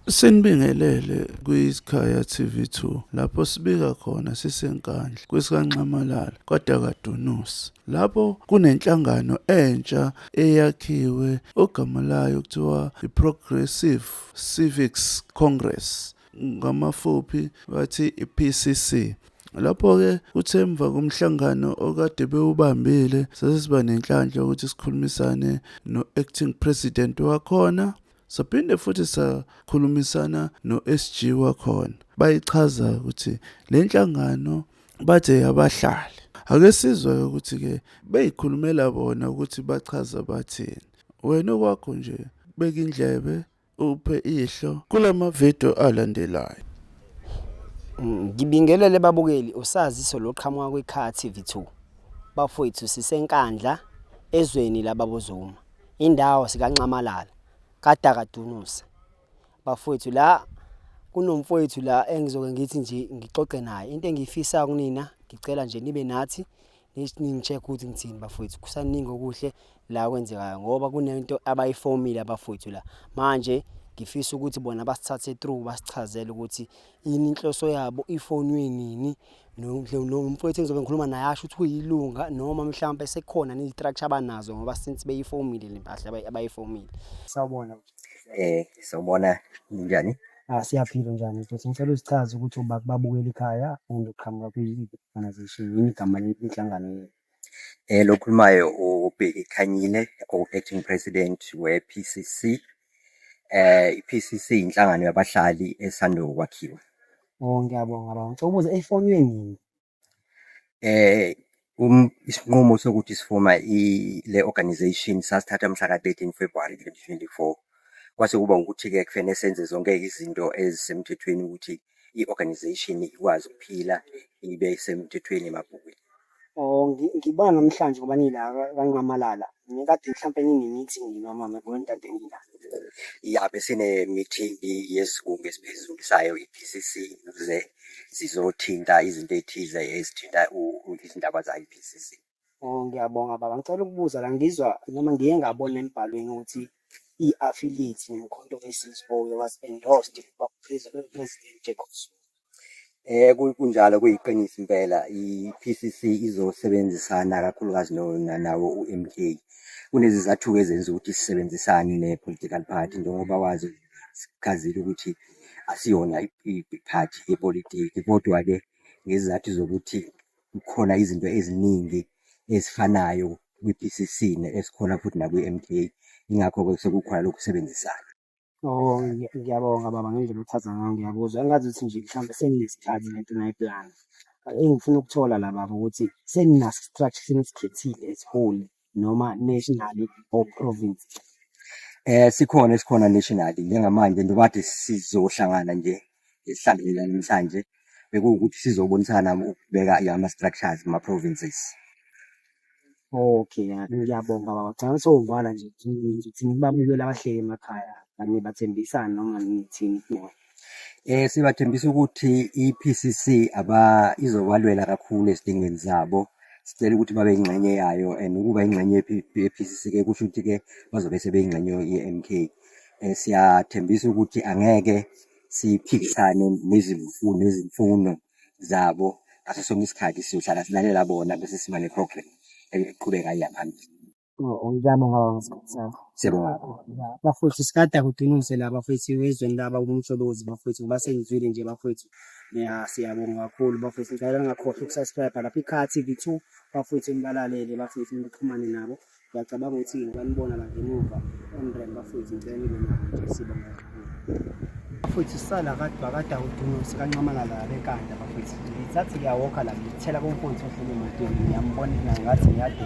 Sinibingelele kwiSikhaya TV2 lapho sibika khona sisenkandla kwesikaNxamalala kwaDakadunusi lapho kunenhlangano entsha eyakhiwe ogama layo kuthiwa iProgressive Civics Congress ngamafuphi bathi iPCC Lapho-ke kuthe emva komhlangano okade bewubambile sesiba nenhlanhla yokuthi sikhulumisane no-acting president wakhona Saphinde futhi sakhulumisana no-SG wakhona bayichaza ukuthi le nhlangano bathe yabahlali ake sizwe ukuthi-ke beyikhulumela bona ukuthi bachaza bathini wena okwakho nje beka indlebe uphe ihlo kula mavidiyo alandelayo ngibingelele babukeli usaziso loqhamuka kwi-car tv 2 bafowethu sisenkandla ezweni lababozuma indawo sikaNxamalala kadaka Dunusa bafowethu la kunomfowethu la engizoke ngithi nje ngixoxe naye into engiyifisa kunina ngicela nje nibe nathi ningi-check ukuthi ngithini bafowethu kusaningi okuhle la kwenzekayo ngoba kunento abayifomile abafowethu la manje ngifisa ukuthi bona basithathe through basichazele ukuthi yini inhloso yabo ifonwe nini nomfowethu engizobe ngikhuluma naye asho ukuthi uyilunga noma mhlawumbe sekhona nezistructure abanazo ngoba since beyifomile le mpahla abayifomile sawubona eh sawubona njani ah siyaphila njani mfowethu ngicela uzichaze ukuthi ubakubabukela ikhaya and uqhamuka kwi-organization yini igama lenhlangano yethu Eh, lo khulumayo ubheki Khanyile o-acting president we-PCC. Eh, i-PCC inhlangano yabahlali esando kwakhiwa. Oh ngiyabonga baba. Ngicela ukubuza efonwe nini? Eh, um, isinqumo sokuthi sifoma i- le organization sasithatha mhla ka-13 February 2024. Kwase kuba ukuthi-ke kufanele senze zonke izinto ezisemthethweni ukuthi i-organization ikwazi ukuphila ibe semthethweni emabhukwini. Oh, ngiba namhlanje ngoba nila kanqamalala. Ngikade mhlampe nine-meeting nina mama yabona ntate ngila. Ya besine-meeting yesigungu esiphezulu sayo i-PCC ukuze sizothinta izinto ey'thize ezithinta izindaba zayo i-PCC. Oh, ngiyabonga baba. Ngicela ukubuza la ngizwa noma ngiye ngabona embhalweni ukuthi i-affiliate nomkhonto weSizwe uye was endorsed by President President Jacob Zuma. Eh ku- kunjalo kuyiqiniso impela i-PCC izosebenzisana kakhulukazi no- na- nawo uMK. Kunezizathu ezenza ukuthi sisebenzisane ne-political party njengoba wazi sichazile ukuthi asiyona i- i- i-party yepolitiki kodwa ke ngezizathu zokuthi kukhona izinto eziningi ezifanayo kwi-PCC esikhona futhi nakwi-MK, ingakho-ke sekukhona lokhu kusebenzisana. Oh, ngiyabonga baba ngendlela othatha ngayo ngiyakuzwa. Engazi ukuthi nje mhlawumbe seninesikhathi le nto nayiplana. Engifuna ukuthola la baba ukuthi seninaso i-structure senisikhethihle esiholi noma nationally or province eh sikhona esikhona nationally njengamanje njengoba kade sizohlangana nje sihlanganela namhlanje bekuwukuthi sizobonisana ukubeka ama structures ma provinces Okay, ngiyabonga baba. Cha ngisovana nje ukuthi ngibabukele abahleli emakhaya, bathembisane noma ngithini. Eh sibathembisa ukuthi iPCC aba izobalwela kakhulu ezidingweni zabo. Sicela ukuthi babe ingxenye yayo and ukuba ingxenye yePCC ke kusho ukuthi ke bazobe sebeyingxenye yeMK. Eh siyathembisa ukuthi angeke siphikisane nezimfuno nezimfuno zabo ngaso sonke isikhathi siyohlala silalela bona bese siba ne-program eqhubekayo yabantu. Uyami ngaba ngesikhathi sakho. Siyabonga kakhulu. Bafowethu sikade akudinise la bafowethu ezweni laba kumsholozi bafowethu ngoba sengizwile nje bafowethu. Ya siyabonga kakhulu bafowethu ngicela ngakhohlwa ukusubscribe lapha iKha TV 2 bafowethu nibalalele bafowethu nixhumane nabo. Ngiyacabanga ukuthi ngibanibona la ngemuva. Emrem bafowethu ngicela nibe nabo sibonga. bafowethu sisala kade bakade awudunusi kancamalala bekanda bafowethu ngisathi ngiyawokha la ngithela komfowethu ohlele emotweni ngiyambona ngathi ngiyade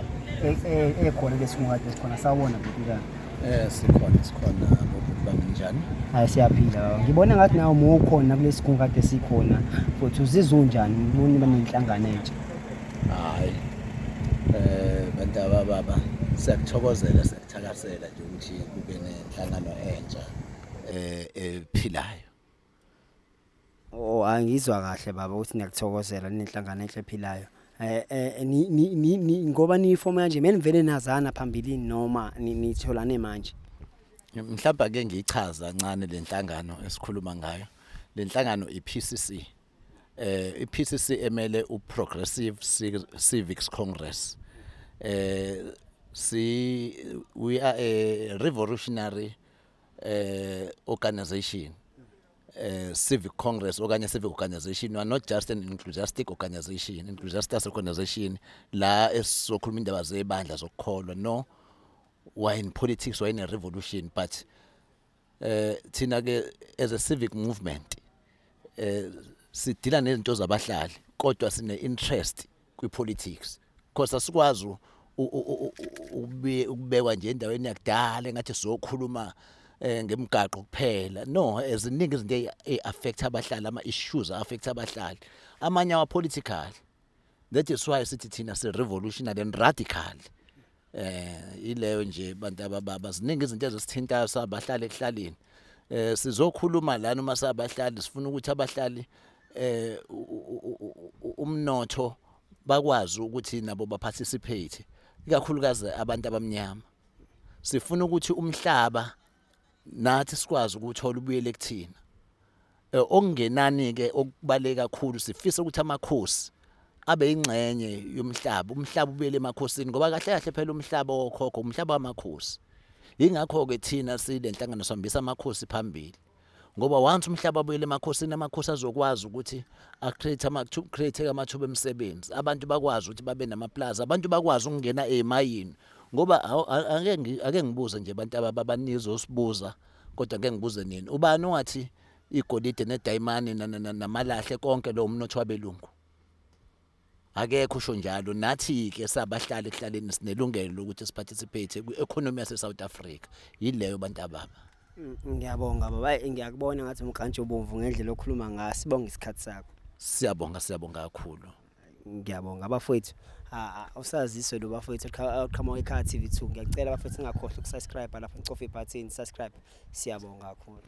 ekhona lesingunkade esikhona sawona bhekikana Eh sikhona sikhona bokuba njani? Hayi siyaphila baba. Ngibona ngathi nawe uma ukhona kulesi kungu kade sikhona futhi uzizwa unjani ubona iba nenhlangano entsha. Hayi. Eh bantaba baba siyakuthokozela Thakasela nje ukuthi kube nenhlangano entsha eh ephilayo. Oh angizwa kahle baba ukuthi ngiyakuthokozela nenhlangano enhle ephilayo. Eh, eh ni ni ni ngoba ni form kanje menivele nazana phambilini noma nitholane manje. Mhlawumbe ake ngiyichaza kancane lenhlangano esikhuluma ngayo. Lenhlangano iPCC. eh iPCC emele uProgressive Civics Congress eh si we are a revolutionary eh organization eh civic congress okanye civic organization we are not just an enthusiastic organization enthusiastic organization la esizokhuluma indaba zebandla zokukholwa no we are in politics we are in a revolution but eh thina ke as a civic movement eh sidila nezinto zabahlali kodwa sine interest kwi politics because asikwazi ukubekwa nje endaweni yakudala engathi sizokhuluma eh ngemigaqo kuphela no eziningi izinto eziaffect abahlali ama issues affect abahlali amanye awa political that is why sithi thina si revolutionary and radical eh ileyo nje bantu abababa ziningi izinto ezisithintayo sabahlali ekuhlaleni eh sizokhuluma lana uma sabahlali sifuna ukuthi abahlali eh umnotho bakwazi ukuthi nabo baparticipate ikakhulukazi abantu abamnyama sifuna ukuthi umhlaba nathi sikwazi ukuthola ubuyele kuthina eh, okungenani ke okubaleka kakhulu sifisa ukuthi amakhosi abe ingxenye yomhlaba umhlaba ubuyele emakhosini ngoba kahle kahle phela umhlaba wokhokho umhlaba wamakhosi ingakho ke thina sile nhlangano sihambisa amakhosi phambili ngoba once umhlaba abuyele emakhosini amakhosi azokwazi ukuthi acreate amathuba create amathuba emisebenzi abantu bakwazi ukuthi babe namaplaza abantu bakwazi ukungena ezimayini ngoba ake ngibuze nje abantu abanizosibuza kodwa ngeke ngibuze nini ubani ongathi igolide nedayimane namalahle konke lowo mnotho wabelungu akekho usho njalo nathi-ke sabahlali ekuhlaleni sinelungelo lokuthi siparticipate kwi-economy yase-south africa yileyo bantu ababa mm, ngiyabonga baba ngiyakubona ngathi umkantshi ubomvu ngendlela okhuluma ngayo sibonge isikhathi sakho siyabonga siyabonga kakhulu ngiyabonga abafowethu usaziswe lo bafowethu oqhamuka ekhaya TV 2 ngiyacela abafowethu singakhohlwa ukusubscribe lapho nicofa ibutton subscribe siyabonga kakhulu